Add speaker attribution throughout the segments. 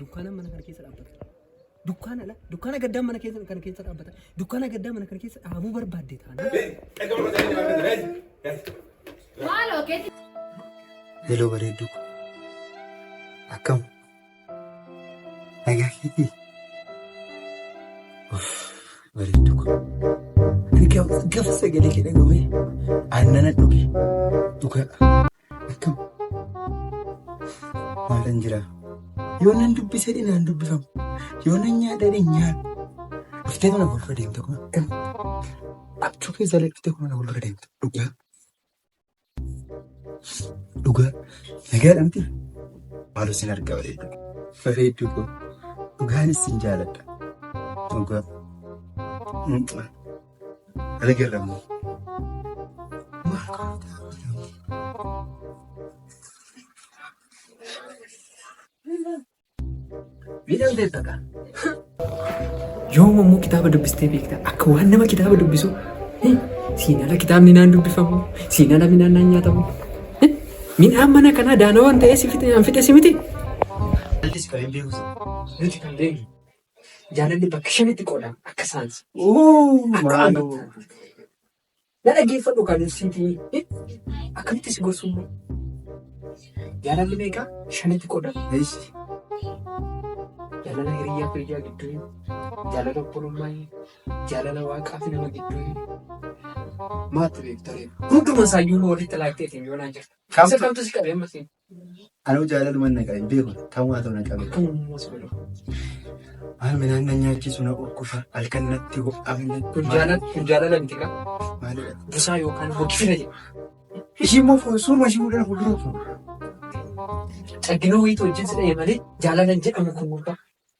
Speaker 1: Dukkaana mana kana keessa dhaabbata. Dukkaana ala dukkaana gaddaa mana keessa kana keessa dhaabbata. Dukkaana gaddaa mana kana keessa dhaabuu barbaadde taana. Maaloo
Speaker 2: keessa. Hello bareedduu ko. Akkam? Nagaa keetii? Bareedduu ko. Ani gaaf sagalee kee dhagahee aannan dhuge dhugaa. Akkam? Maalan jira? Yoo nan dubbisee dhinaan dubbifamu. Yoo nan nyaadhee dhin nyaadhu. Dhuftee mana fuuldura deemte kun. Abjuu keessa illee dhuftee kun mana fuuldura deemte. Dhugaa. Dhugaa. Nagaadha miti. Maaloo sin argaa bareedduu. Bareedduu koo. Dhugaanis sin jaaladha. Dhugaa. Ani garramu.
Speaker 1: Miidhaan ta'e taqa. Yoo ammoo kitaaba dubbistee beektaa akka waan nama kitaaba dubbisu siinala kitaabni naan dubbifamu siinala midhaan naan nyaatamu midhaan mana kanaa daanawaan ta'ee si fite naan fite si miti. Allis
Speaker 2: kan hin beeku nuti kan
Speaker 1: beeknu. Jaalalli bakka shanitti qoodama akka saansi. Akka
Speaker 2: amantaa.
Speaker 1: Na dhaggeeffadhu kan siiti akkamitti si gorsummoo? Jaalalli meeqa shanitti qoodama.
Speaker 2: Jaalala
Speaker 1: hiriyaa fi hiriyaa gidduu, jaalala obbolummaa, jaalala waaqaa fi nama gidduu. Maatti beektaree. Hunduma isaayyuu walitti laaqxeetiin yoo naan jirta. Isa kamtu si qabee ammas? Anuu jaalaluman
Speaker 2: naqa hin beeku tamaa ta'u na qabe. Maal midhaan na nyaachisu na urkufa halkan natti ho'aa. Kun jaalala kun jaalala
Speaker 1: miti kaa. Maalidha? Busaa
Speaker 2: yookaan
Speaker 1: hoggifina jedha. Ishii immoo
Speaker 2: fuul- suuruma ishii fuuldura fuuldura fuula.
Speaker 1: Caggina wayiitu wajjin si dha'e malee jaalala hin jedhamu kun gurbaa.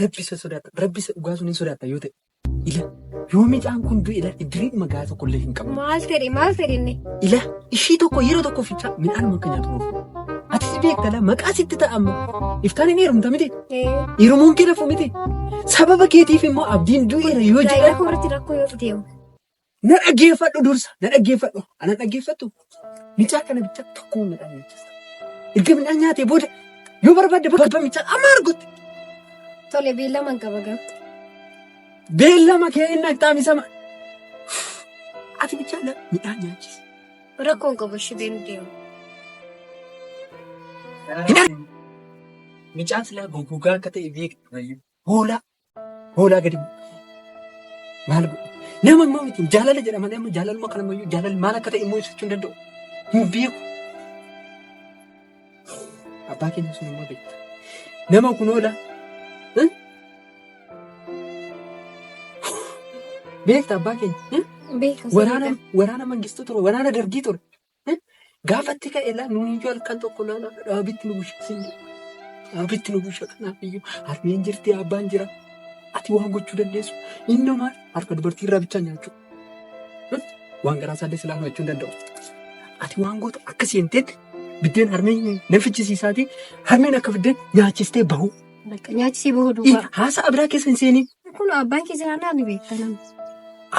Speaker 1: Rabbi isa sodaata. Rabbi isa dhugaa sun hin sodaata yoo ta'e. Ila yoo mucaan kun du'e ila idiriin magaa tokko illee hin qabu. Maal fedhe maal fedhe inni?
Speaker 3: Ila ishii
Speaker 1: tokko yeroo tokko fichaa midhaan akka nyaatu oofu. Atis beektala maqaa sitti ta'a amma. Iftaan hin heerumta miti. Ee, Heerumuun kee lafu miti. Sababa keetiif immoo abdiin du'eera yoo gaa'ela jedhan. koo irratti rakkoo yoo fide hoo?
Speaker 3: Na
Speaker 1: dhaggeeffadhu dursa, na dhaggeeffadhu. Ana dhaggeeffattu micaa kana bicha tokko midhaan nyaachista. Erga midhaan nyaatee booda yoo barbaadde barba michaa amma argutti. Tole
Speaker 3: beellama hin qaba garuu.
Speaker 1: Beellama kee inni akkaamisama. Ati bichaa na midhaan nyaachisa. Rakkoo hin qabu
Speaker 3: ishee beenu deemu. Midhaan.
Speaker 1: Micaan silaa goggogaa akka ta'e beektu. Hoolaa. Hoolaa gadi bu'u. Maal godhu? Nama immoo miti jaalala jedha malee amma jaalaluma kana immoo jaalalli maal akka ta'e immoo ibsachuu hin danda'u. Hin beeku. Abbaa keenya sun immoo beekta. Nama kun hoola. eh? Beekta abbaa keenya. eh? Beekas. Waraana waraana mangistuu ture waraana dargii ture. Gaafatti ka'e laa nuyi yoo halkan tokko laala dhaabitti nu bushe sin jedhu. Dhaabitti nu bushe kanaaf iyyuu harmeen jirti abbaan jira. Ati waan gochuu dandeessu inni maal harka dubartii irraa bichaa nyaachuu. Waan garaa isaallee silaa hojjechuu hin danda'u. Ati waan gootu akka seenteetti biddeen harmee nan fichisiisaatii harmeen akka biddeen nyaachistee bahu. Bakka nyaati si bahu
Speaker 3: duuba. Haasa'a biraa keessa hin
Speaker 1: seenin. Kun abbaan kee jiraannaa
Speaker 3: ni beekta nama.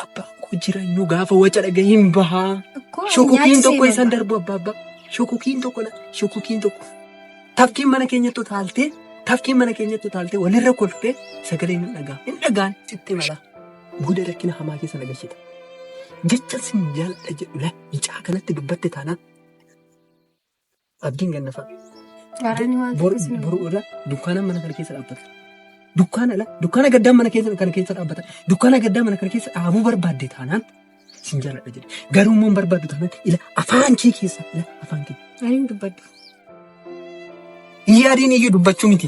Speaker 3: Abbaan
Speaker 1: koo jireenyu gaafa waca dhaga hin bahaa. Akkoo Shokokiin tokko isaan darbu abbaa abbaa. Shokokiin tokko la shokokiin tokko. Tafkiin mana keenyatti utaaltee tafkiin mana keenyatti utaaltee walirra kolfee sagalee hin dhagaa. Hin dhagaan sitti mala. Booda rakkina hamaa keessa nagashita. Jecha sin jaalladha jedhu la icaa kanatti dubbatte taanaan Abdiin ganna fa'a. Gaaraan waan Bor- tokko sin Boruu irra dukkaana mana kana keessa dhaabbata. Dukkaana ala dukkaana gaddaa mana keessa kana keessa dhaabbata. Dukkaana gaddaa mana kana keessa dhaabuu barbaadde taanaan sin jaaladha jedhe. Garuu immoo hin barbaaddu taanaan ila afaan kee keessa ila afaan kee. Ani hin dubbadhu. Yaadiin iyyuu dubbachuu miti.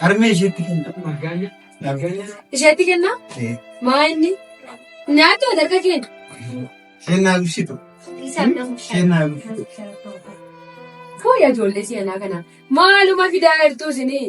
Speaker 2: Harmee
Speaker 3: isheetti kenna. Isheetti kenna? Maa inni? Nyaata harka keenya. Isheen naa
Speaker 2: ibsitu. Isheen naa ibsitu.
Speaker 3: Fooyyaa ijoollee seenaa kana maaluma fidaa jirtu isinii?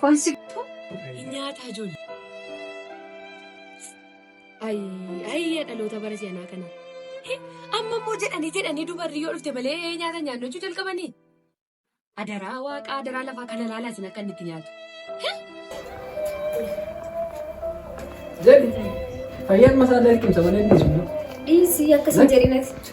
Speaker 3: Foon si guutuu hin
Speaker 4: nyaataa ijoollee. Ayii ayii dhaloota bara si'anaa kana. Amma immoo jedhanii jedhanii dubarri yoo dhufte malee nyaata nyaannu jechuu jalqabanii. Adaraa waaqaa adaraa lafaa kana laalaa isin akka inni itti nyaatu.
Speaker 1: Jedhi fayyaan masaa dalqimsa malee dhiisu. Dhiisii
Speaker 3: akkasii jedhinati.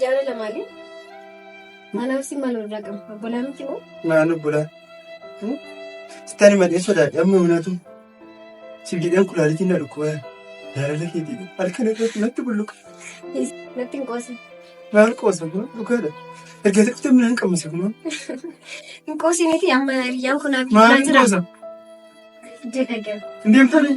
Speaker 3: Jaara lamaanii maanaaf si maal irraa qabu? Obbolaa
Speaker 2: miti
Speaker 3: moo? Naan obbolaa.
Speaker 2: Sittani malee sodaadhe amma hunatu. Siif jedheen kulaalitiin na dhukkuba. Jaalala keetii halkan irratti natti bulluqa.
Speaker 3: Natti hin qoosa. Maal
Speaker 2: qoosa kun dhugaadha. Erga xiqqootti ammaa hin qabne kun. Hin
Speaker 3: qoosiniiti amma hiriyyaan kun abiddaa jira. Maal qoosa? Jedha gara. Hin
Speaker 2: deemtanii?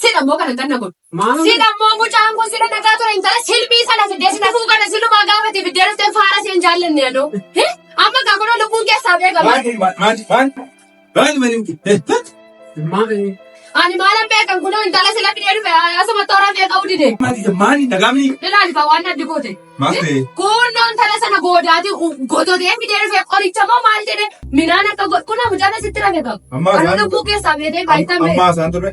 Speaker 1: Sila mo kana tanna
Speaker 3: kun. Sila mo mo
Speaker 1: chan kun
Speaker 3: sila nagaa ture intala silbii sana fidee sila kun kana silumaa gaafate fidee dhuftee faara seen jaallanne adoo. Amma kaa kunoo lubbuun keessaa beekama. Maal maal maal Baay'ee malee
Speaker 2: heettatu. Ani maalan
Speaker 3: beekan kunoo intala sila fidee dhufe asuma toora fee qabu dide. Maali maali dhagaamni.
Speaker 2: Ilaali faa waan addi
Speaker 3: goote. Maal ta'e? Kunoo
Speaker 5: intala
Speaker 3: sana goodaati gototee fidee dhufe qoricha moo maal jedhe minaan akka godhu kunoo mucaan asitti rafe qabu. Ammaa Kan isaan- lubbuu keessaa beetee baay'atan Ammaa isaan turre.